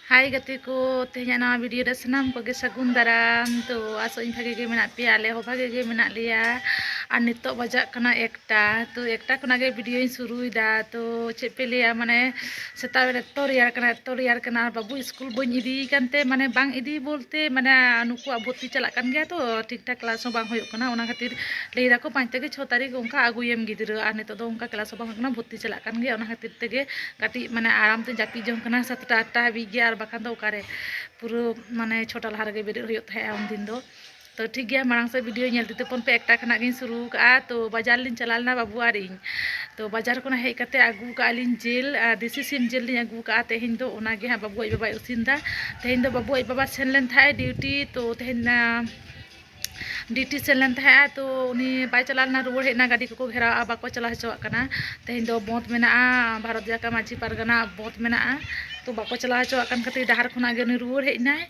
ᱦᱟᱭ ᱜᱟᱛᱮ ᱠᱚ ᱛᱮᱦᱮᱧᱟᱜ ᱱᱟᱣᱟ ᱵᱷᱤᱰᱤᱭᱳ ᱨᱮ ᱥᱟᱱᱟᱢ ᱠᱚᱜᱮ ᱥᱟᱹᱜᱩᱱ ᱫᱟᱨᱟᱢ ᱛᱚ ᱟᱥᱚᱜ ᱤᱧ ᱵᱷᱟᱜᱮ ᱜᱮ ᱢᱮᱱᱟᱜ ᱯᱮᱭᱟ ᱟᱞᱮ ᱦᱚᱸ ᱵᱷᱟᱜᱮ ᱜᱮ ᱢᱮᱱᱟᱜ ᱞᱮᱭᱟ ᱟᱨ ᱱᱤᱛᱚᱜ ᱵᱟᱡᱟᱜ ᱠᱟᱱᱟ ᱮᱠᱴᱟ ᱛᱚ ᱮᱠᱴᱟ ᱠᱷᱚᱱᱟᱜ ᱜᱮ ᱵᱷᱤᱰᱤᱭᱳᱧ ᱥᱩᱨᱩᱭᱮᱫᱟ ᱛᱚ ᱪᱮᱫ ᱯᱮ ᱞᱟᱹᱭᱟ ᱢᱟᱱᱮ ᱥᱮᱛᱟᱜ ᱵᱮᱲᱟ ᱮᱛᱚ ᱨᱮᱭᱟᱲ ᱠᱟᱱᱟ ᱮᱛᱚ ᱨᱮᱭᱟᱲ ᱠᱟᱱᱟ ᱟᱨ ᱵᱟᱹᱵᱩ ᱥᱠᱩᱞ ᱵᱟᱹᱧ ᱤᱫᱤᱭᱮ ᱠᱟᱱᱛᱮ ᱢᱟᱱᱮ ᱵᱟᱝ ᱤᱫᱤ ᱵᱚᱞᱛᱮ ᱢᱟᱱᱮ ᱱᱩᱠᱩᱣᱟᱜ ᱵᱷᱚᱨᱛᱤ ᱪᱟᱞᱟᱜ ᱠᱟᱱ ᱜᱮᱭᱟ ᱛᱚ ᱴᱷᱤᱠ ᱴᱷᱟᱠ ᱠᱞᱟᱥ ᱦᱚᱸ ᱵᱟᱝ ᱦᱩᱭᱩᱜ ᱠᱟᱱᱟ ᱚᱱᱟ ᱠᱷᱟᱹᱛᱤᱨ ᱞᱟᱹᱭ ᱫᱟᱠᱚ ᱯᱟᱸᱪ ᱛᱷᱮᱠᱮ ᱪᱷᱚ ᱛᱟᱹᱨᱤᱠᱷ ᱚᱱᱠᱟ ᱟᱹᱜᱩᱭᱮᱢ ᱜᱤᱫᱽᱨᱟᱹ ᱟᱨ ᱱᱤᱛᱚᱜ ᱫᱚ ᱚᱱᱠᱟ ᱠᱞᱟᱥ ᱦᱚᱸ ᱵᱟᱝ ᱦᱩᱭᱩᱜ ᱠᱟᱱᱟ ᱵᱷᱚᱨᱛᱤ ᱪᱟᱞᱟᱜ ᱠᱟᱱ ᱜᱮᱭᱟ ᱚᱱᱟ ᱠᱷᱟᱹᱛᱤᱨ ᱛᱮᱜᱮ ᱠᱟᱹᱴᱤᱡ ᱢᱟᱱᱮ ᱟᱨᱟᱢ ᱛᱮᱧ ᱡᱟᱹᱯᱤᱫ ᱡᱚᱝ ᱠᱟᱱᱟ ᱥᱟᱛᱴᱟ ᱟᱴᱴᱟ ᱦᱟᱹᱵᱤᱡ ᱜᱮ ᱟᱨ ᱵᱟᱠᱷᱟᱱ ᱫᱚ ᱚᱠᱟᱨᱮ ᱯᱩᱨᱟᱹ ᱢᱟᱱᱮ ᱪᱷᱚᱴᱟ ᱞᱟᱦᱟ ᱨᱮᱜᱮ ᱵᱮᱨᱮᱫ ᱦᱩᱭᱩᱜ ᱛᱟᱦᱮᱸᱜᱼᱟ ᱩᱱᱫᱤᱱ ᱫᱚ ᱛᱚ ᱴᱷᱤᱠ ᱜᱮᱭᱟ ᱢᱟᱲᱟᱝ ᱥᱮᱫ ᱵᱷᱤᱰᱤᱭᱳ ᱧᱮᱞ ᱛᱤᱛᱮ ᱯᱷᱳᱱ ᱯᱮ ᱮᱠᱴᱟ ᱠᱷᱚᱱᱟᱜ ᱜᱤᱧ ᱥᱩᱨᱩ ᱠᱟᱜᱼᱟ ᱛᱚ ᱵᱟᱡᱟᱨ ᱞᱤᱧ ᱪᱟᱞᱟᱣ ᱞᱮᱱᱟ ᱵᱟᱹᱵᱩ ᱟᱨ ᱤᱧ ᱛᱚ ᱵᱟᱡᱟᱨ ᱠᱷᱚᱱᱟᱜ ᱦᱮᱡ ᱠᱟᱛᱮ ᱟᱹᱜᱩ ᱠᱟᱜᱼᱟ ᱞᱤᱧ ᱡᱤᱞ ᱟᱨ ᱫᱮᱥᱤ ᱥᱤᱢ ᱡᱤᱞ ᱞᱤᱧ ᱟᱹᱜᱩ ᱠᱟᱜᱼᱟ ᱛᱮᱦᱮᱧ ᱫᱚ ᱚᱱᱟ ᱜᱮ ᱦᱟᱸᱜ ᱵᱟᱹᱵᱩ ᱟᱡ ᱵᱟᱵᱟᱭ ᱤᱥᱤᱱ ᱮᱫᱟ ᱛᱮᱦᱮᱧ ᱫᱚ ᱵᱟᱹᱵᱩ ᱟᱡ ᱵᱟᱵᱟ ᱥᱮᱱ ᱞᱮᱱ ᱛᱟᱦᱮᱸᱜ ᱰᱤᱭᱩᱴᱤ ᱛᱚ ᱛᱮᱦᱮᱧ ᱰᱤᱭᱩᱴᱤ ᱥᱮᱱ ᱞᱮᱱ ᱛᱟᱦᱮᱸᱜᱼᱟ ᱛᱚ ᱩᱱᱤ ᱵᱟᱭ ᱪᱟᱞᱟᱣ ᱞᱮᱱᱟ ᱨᱩᱣᱟᱹᱲ ᱦᱮᱡ ᱮᱱᱟ ᱜᱟᱹᱰᱤ ᱠᱚᱠᱚ ᱜᱷᱮᱨᱟᱣᱟᱜᱼᱟ ᱵᱟᱠᱚ ᱪᱟᱞᱟᱣ ᱦᱚᱪᱚᱣᱟᱜ ᱠᱟᱱᱟ ᱛᱮᱦᱮᱧ ᱫᱚ ᱵᱚᱸᱫᱽ ᱢᱮᱱᱟᱜᱼᱟ ᱵᱷᱟᱨᱚᱛ ᱡᱟᱠᱟᱛ ᱢᱟᱹᱡᱷᱤ ᱯᱟᱨᱜᱟᱱᱟ ᱵᱚᱸᱫᱽ ᱢᱮᱱᱟᱜᱼᱟ ᱛᱚ ᱵᱟᱠᱚ ᱪᱟᱞᱟᱣ ᱦᱚᱪᱚᱣᱟᱜ ᱠᱟᱱ ᱠᱷᱟᱹᱛᱤᱨ ᱰᱟᱦᱟᱨ ᱠᱷᱚᱱᱟᱜ ᱜᱮ ᱩᱱᱤ ᱨᱩᱣᱟᱹᱲ ᱦᱮᱡ ᱮᱱᱟᱭ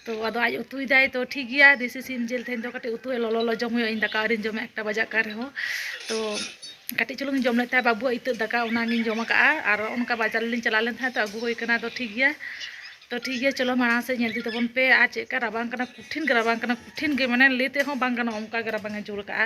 ᱛᱚ ᱟᱫᱚ ᱟᱡ ᱩᱛᱩᱭᱮᱫᱟᱭ ᱛᱚ ᱴᱷᱤᱠ ᱜᱮᱭᱟ ᱫᱮᱥᱤ ᱥᱤᱢ ᱡᱤᱞ ᱛᱮᱦᱮᱧ ᱫᱚ ᱠᱟᱹᱴᱤᱡ ᱩᱛᱩ ᱞᱚᱞᱚ ᱞᱚᱞᱚ ᱡᱚᱢ ᱦᱩᱭᱩᱜᱼᱟ ᱤᱧ ᱫᱟᱠᱟ ᱟᱹᱣᱨᱤᱧ ᱡᱚᱢᱟ ᱮᱠᱴᱟ ᱵᱟᱡᱟᱜ ᱠᱟᱱ ᱨᱮᱦᱚᱸ ᱛᱚ ᱠᱟᱹᱴᱤᱡ ᱪᱩᱞᱩᱝ ᱡᱚᱢ ᱞᱮᱫ ᱛᱟᱦᱮᱸᱫ ᱵᱟᱹᱵᱩᱣᱟᱜ ᱤᱛᱟᱹᱜ ᱫᱟᱠᱟ ᱚᱱᱟᱜᱤᱧ ᱡᱚᱢ ᱟᱠᱟᱫᱼᱟ ᱟᱨ ᱚᱱᱠᱟ ᱵᱟᱡᱟᱨ ᱞᱤᱧ ᱪᱟᱞᱟᱣ ᱞᱮᱱ ᱛᱟᱦᱮᱸᱫ ᱛᱚ ᱟᱹᱜᱩ ᱦᱩᱭ ᱠᱟᱱᱟ ᱛᱚ ᱴᱷᱤᱠ ᱜᱮᱭᱟ ᱛᱚ ᱴᱷᱤᱠ ᱜᱮᱭᱟ ᱪᱚᱞᱚ ᱢᱟᱲᱟᱝ ᱥᱮᱫ ᱧᱮᱞ ᱤᱫᱤ ᱛᱟᱵᱚᱱ ᱯᱮ ᱟᱨ ᱪᱮᱫ ᱞᱮᱠᱟ ᱨᱟᱵᱟᱝ ᱠᱟᱱᱟ ᱠᱚᱴᱷᱤᱱ ᱜᱮ ᱨᱟᱵᱟᱝ ᱠᱟᱱᱟ ᱠᱚᱴᱷᱤᱱ ᱜᱮ ᱢᱟᱱᱮ ᱞᱟᱹᱭ ᱛᱮᱦᱚᱸ ᱵᱟᱝ ᱜᱟᱱᱚᱜᱼᱟ ᱚᱱᱠᱟ ᱜᱮ ᱨᱟᱵᱟᱝ ᱮ ᱡᱳᱨ ᱟᱠᱟᱫᱼᱟ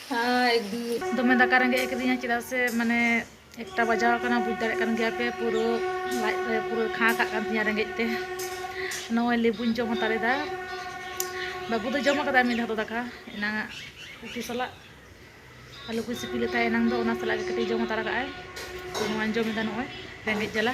ᱫᱚᱢᱮ ᱫᱟᱠᱟ ᱨᱮᱸᱜᱮᱡ ᱟᱠᱟᱫᱤᱧᱟ ᱪᱮᱫᱟᱜ ᱥᱮ ᱢᱟᱱᱮ ᱮᱠᱴᱟ ᱵᱟᱡᱟᱣ ᱟᱠᱟᱱᱟ ᱵᱩᱡᱽ ᱫᱟᱲᱮᱭᱟᱜ ᱠᱟᱱ ᱜᱮᱭᱟ ᱯᱮ ᱯᱩᱨᱟᱹ ᱞᱟᱡ ᱨᱮ ᱯᱩᱨᱟᱹ ᱠᱷᱟᱸ ᱠᱟᱜ ᱠᱟᱱ ᱛᱤᱧᱟ ᱨᱮᱸᱜᱮᱡ ᱛᱮ ᱱᱚᱜᱼᱚᱭ ᱞᱮᱵᱩᱧ ᱡᱚᱢ ᱦᱟᱛᱟᱲ ᱮᱫᱟ ᱵᱟᱹᱵᱩ ᱫᱚ ᱡᱚᱢ ᱟᱠᱟᱫᱟᱭ ᱢᱤᱫ ᱫᱷᱟᱣ ᱫᱚ ᱫᱟᱠᱟ ᱮᱱᱟᱝ ᱩᱛᱩ ᱥᱟᱞᱟᱜ ᱟᱞᱩ ᱠᱚ ᱥᱤᱯᱤ ᱞᱮᱫ ᱛᱟᱦᱮᱸ ᱮᱱᱟᱝ ᱫᱚ ᱚᱱᱟ ᱥᱟᱞᱟᱜ ᱜᱮ ᱠᱟᱹᱴᱤᱡ ᱡᱚᱢ ᱦᱟᱛᱟᱲ ᱠᱟᱜᱼᱟᱭ ᱱᱚᱣᱟᱧ ᱡᱚᱢ ᱮᱫᱟ ᱱᱚᱜᱼᱚᱭ ᱨᱮᱸᱜᱮᱡ ᱡᱟᱞᱟ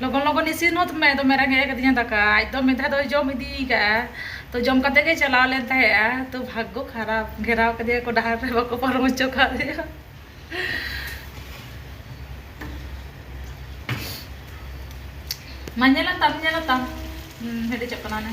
ᱞᱚᱜᱚᱱ ᱞᱚᱜᱚᱱ ᱤᱥᱤᱱ ᱦᱚᱸ ᱢᱮ ᱫᱚᱢᱮ ᱨᱮᱸᱜᱮᱡ ᱟᱠᱟᱫᱤᱧᱟ ᱫᱟᱠᱟ ᱟᱡ ᱫᱚ ᱢᱤᱫ ᱫᱷᱟᱣ ᱫᱚᱭ ᱡᱚᱢ ᱤᱫᱤ ᱟᱠᱟᱫᱼᱟ ᱛᱚ ᱡᱚᱢ ᱠᱟᱛᱮ ᱜᱮ ᱪᱟᱞᱟᱣ ᱞᱮᱱ ᱛᱟᱦᱮᱸᱜᱼᱟ ᱛᱚ ᱵᱷᱟᱜᱽᱜᱚ ᱠᱷᱟᱨᱟᱯ ᱜᱷᱮᱨᱟᱣ ᱠᱟᱫᱮᱭᱟ ᱠᱚ ᱰᱟᱦᱟᱨ ᱨᱮ ᱵᱟᱠᱚ ᱯᱟᱨᱚᱢ ᱦᱚᱪᱚ ᱠᱟᱫᱮᱭᱟ ᱢᱟ ᱧᱮᱞᱟ ᱛᱟᱢ ᱧᱮᱞᱟ ᱛᱟᱢ ᱦᱮᱰᱮᱡᱚᱜ ᱠᱟᱱᱟ ᱚᱱᱮ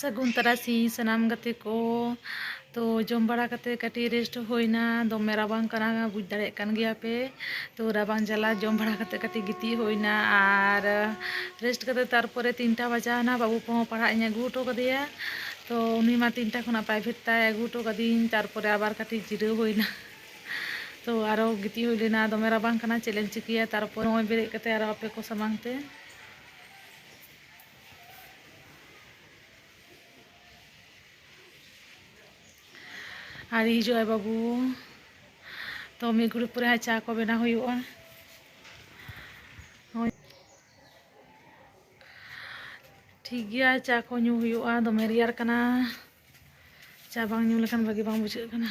ᱥᱟᱹᱜᱩᱱ ᱛᱟᱨᱟᱥᱤᱧ ᱥᱟᱱᱟᱢ ᱜᱟᱛᱮ ᱠᱚ ᱛᱚ ᱡᱚᱢ ᱵᱟᱲᱟ ᱠᱟᱛᱮ ᱠᱟᱹᱴᱤᱡ ᱨᱮᱥᱴ ᱦᱩᱭᱱᱟ ᱫᱚᱢᱮ ᱨᱟᱵᱟᱝ ᱠᱟᱱᱟ ᱵᱩᱡᱽ ᱫᱟᱲᱮᱭᱟᱜ ᱠᱟᱱ ᱜᱮᱭᱟ ᱯᱮ ᱛᱚ ᱨᱟᱵᱟᱝ ᱡᱟᱞᱟ ᱡᱚᱢ ᱵᱟᱲᱟ ᱠᱟᱛᱮ ᱠᱟᱹᱴᱤᱡ ᱜᱤᱛᱤᱡ ᱦᱩᱭᱱᱟ ᱟᱨ ᱨᱮᱥᱴ ᱠᱟᱛᱮ ᱛᱟᱨᱯᱚᱨᱮ ᱛᱤᱱᱴᱟ ᱵᱟᱡᱟᱣᱱᱟ ᱵᱟᱹᱵᱩ ᱠᱚᱦᱚᱸ ᱯᱟᱲᱦᱟᱜ ᱤᱧ ᱟᱹᱜᱩ ᱦᱚᱴᱚ ᱠᱟᱫᱮᱭᱟ ᱛᱚ ᱩᱱᱤ ᱢᱟ ᱛᱤᱱᱴᱟ ᱠᱷᱚᱱᱟᱜ ᱯᱨᱟᱭᱵᱷᱮᱴ ᱛᱟᱭ ᱟᱹᱜᱩ ᱦᱚᱴᱚ ᱠᱟᱫᱤᱧ ᱛᱟᱨᱯᱚᱨᱮ ᱟᱵᱟᱨ ᱠᱟᱹᱴᱤᱡ ᱡᱤᱨᱟᱹᱣ ᱦᱩᱭᱱᱟ ᱛᱚ ᱟᱨᱚ ᱜᱤᱛᱤᱡ ᱦᱩᱭ ᱞᱮᱱᱟ ᱫᱚᱢᱮ ᱨᱟᱵᱟᱝ ᱠᱟᱱᱟ ᱪᱮᱫ ᱮᱢ ᱪᱤᱠᱟᱹᱭᱟ ᱛᱟᱨᱯᱚᱨ ᱱᱚᱜᱼᱚᱭ ᱵᱮᱨᱮᱫ ᱠᱟᱛᱮ ᱟᱨᱚ ᱟᱯᱮ ᱠᱚ ᱥᱟᱢᱟᱝ ᱛᱮ ᱟᱹᱣᱨᱤ ᱦᱤᱡᱩᱜ ᱟᱭ ᱵᱟᱹᱵᱩ ᱛᱚ ᱢᱤᱫ ᱜᱷᱩᱲᱤ ᱯᱚᱨᱮ ᱦᱟᱸᱜ ᱪᱟ ᱠᱚ ᱵᱮᱱᱟᱣ ᱦᱩᱭᱩᱜᱼᱟ ᱴᱷᱤᱠ ᱜᱮᱭᱟ ᱪᱟ ᱠᱚ ᱧᱩ ᱦᱩᱭᱩᱜᱼᱟ ᱫᱚᱢᱮ ᱨᱮᱭᱟᱲ ᱠᱟᱱᱟ ᱪᱟ ᱵᱟᱝ ᱧᱩ ᱞᱮᱠᱷᱟᱱ ᱵᱷᱟᱜᱮ ᱵᱟᱝ ᱵᱩᱡᱷᱟᱹᱜ ᱠᱟᱱᱟ